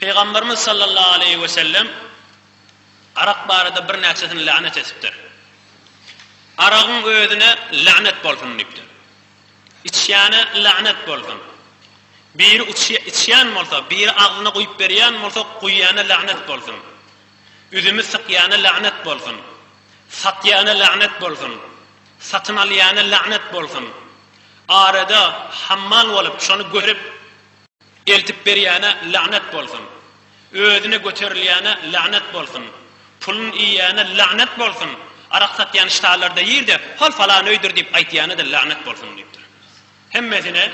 Pygamberimiz sallallahu aleýhi we sellem arak barada birnäçesini lagnet etipdir. Aragyň özüne lagnet bolsun diýipdir. Içýäne lagnet bolsun. Biri içýän bolsa, biri agzyna guýup berýän bolsa, guýýana lagnet bolsun. Üzümi sykýana lagnet bolsun. Satýana lagnet bolsun. Satyn alýana lagnet bolsun. Arada hammal bolup, şony görüp, Eltip berýäne lagnet bolsun. Özüne göterilýäne lagnet bolsun. Pulun iýýäne lagnet bolsun. Arak satýan ştalarda ýyr-da, hol falan öýdür diýip aýtýana-da lagnet bolsun diýipdir. Hemmesine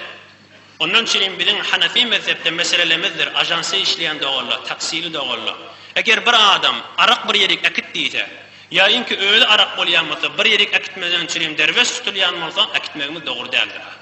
Ondan çenli biziň Hanefi mezhepde meselelemizdir, ažansda işleýän doganlar, taksili doganlar. Eger bir adam arak bir ýerik äkit diýse, ýa inki özi arak bolýan bolsa, bir ýerik äkitmezden çenli derweş tutulýan bolsa, äkitmegimiz dogry däldir.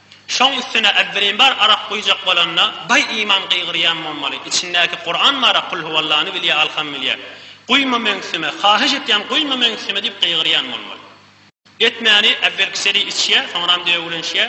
Şoň üstüne Äbdürimbar arak guýjak bolanda, Baý iman gygyrýan bolmaly, içindäki Kuran bar-a Kul huwallany bilýä alham bilýä. Guýma meňsime, haýyş etýän guýma meňsime diýip gygyrýan bolmaly. Etmäni äwelkiseli içýä, soňram döwülenşýä.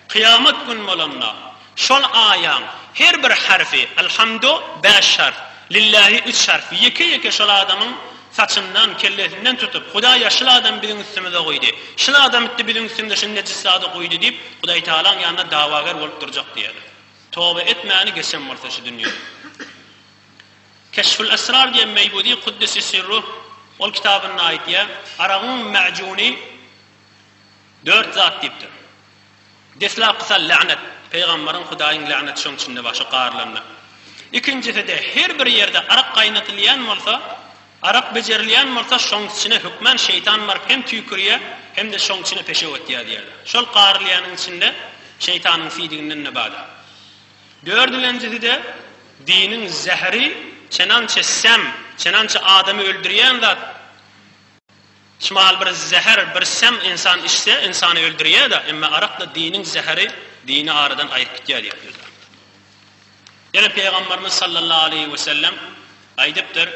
Kyýamat gün bolanda, şol aýaň her bir harfi, Alhamdo bäş harf, Lillahi üç harf, ýeke-ýeke şol adamyň Saçyndan, kellesinden tutup, Hudaý ýaşyl adamy biziň üstümize goýdy. Şyl adam itdi biziň üstümize şyny nejis zady guýdy diýip, Hudaýtagalaň ýanynda dawager bolup durjak diýerler. Toba etmäni geçen bolsa şu dünýe. Keşful Esrar diýen Meýbudi Kuddisi Sirruh ol kitabynda aýtýar, Aragyň mäjuny dört zat diýipdir. Deslapky sal lagnet, pygamberiň Hudaýyň lagneti şoň içinde bar şo garylanda. Ikinjiside her bir ýerde arak gaýnatylýan bolsa, arak bejerilýän bolsa şoň içine hökmän şeýtan baryp hem tüýkürýä hem-de şoň içine peşew atýa diýerler. Şol garylýanyň içinde şeýtanyň siýdiginden ne bada. Dördülenjiside diniň zäheri çenançe säm, çenançe adamy öldürýän zat. Çmal bir zäher, bir säm ynsan içse, ynsany öldürýär-de, emma arak-da diniň zäheri, dini aradan aýryp gitýär diýip bildiripdir. Ýene Pygamberimiz sallallahu aleýhi we sellem aýdypdyr,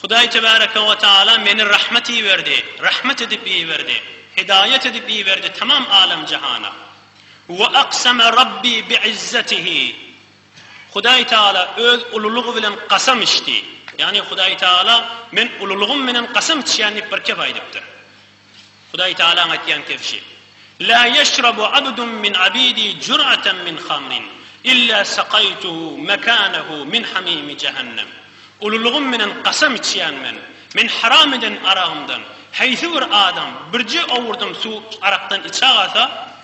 Hudaý tebareke we taala meni rahmet iberdi, rahmet edip iberdi, hidaýat edip iberdi tamam alem-jahana. We akseme Rabbi bi izzetihi. Hudaý Tagala Öz ululygy bilen kasam içdi. Ýagny Hudaý Tagala Men ululygym menen kasam içýän diýip bir kep aýdypdyr. Hudaý Tagalaň aýtýan kepşi. La ýeşrabu abdun min abidi jur'atan min hamrin illa sakaýtuhu mekanahu min hamimi jehennem. Ululygym menen kasam içýän men. Men haram eden aragymdan heýsi bir adam birje owurdym suw arakdan içä galsa,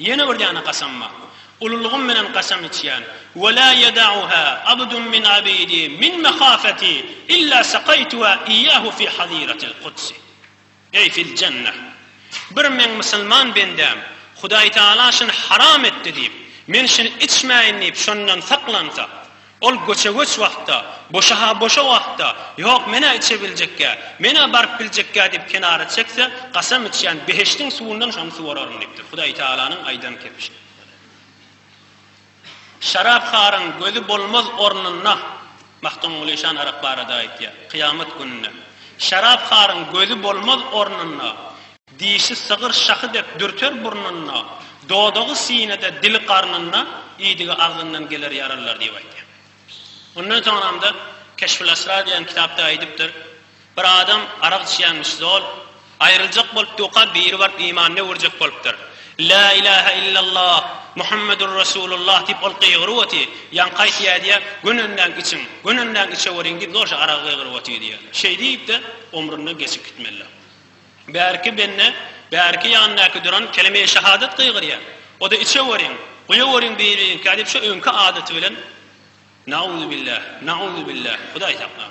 Ýene bir ýana kasam bar. Ululygym bilen kasam içýän. Ve la yeda'uha abdun min abidi min mehafeti illa saqaytuha iyyahu fi haziratil kudsi. Eý fil jenneh. Bir meň musulman bendäm, Hudaýtagala şuny haram etdi diýip, men şuny içmäýin diýip şondan saklansa, Ol göçe-göç wagtda, boşa-ha boşa wagtda, Ýok, men-ä içe biljekkä, men-ä baryp biljekkä diýip kenara çekse, Kasam içýän behişdiň suwundan şony suwararyn diýipdir. Hudaýtagalanyň aýdan kepişi. Şarapharyň gözi bolmaz ornunda, Magtymguly şan arak barada aýtýar, kyýamat gününde. Şarapharyň gözi bolmaz ornunda. Dişi sygyr şahy dek dürter burnunda, dodagy sinede, dili garnynda, iýdigi agzyndan geler ýaralylar diýip aýtýar. Ondan soňramda Keşful Asrar diýen kitapda aýdypdyr, Bir adam arak içýänmiş zol, aýryljak bolup duka biri baryp imanyny öwürjek bolupdyr. La ilahe illallah, Muhammedur Resulullah diýip ol gygyryp oty, ýaňky aýtýa diýýär, gönenleň içiň, gönenleň içeweriň diýip zorja aragy gygyryp oty diýýär. Şeýdip-de omrundan geçip gitmelidir. Bärki bende, bärki ýanyndaky duran kelime-i şahadat gygyrýar. O-da içeweriň, guýaweriň bir-biriňkä diýip şu öňki adaty bilen Nauzubilla, nauzubilla, Hudaý saklaň.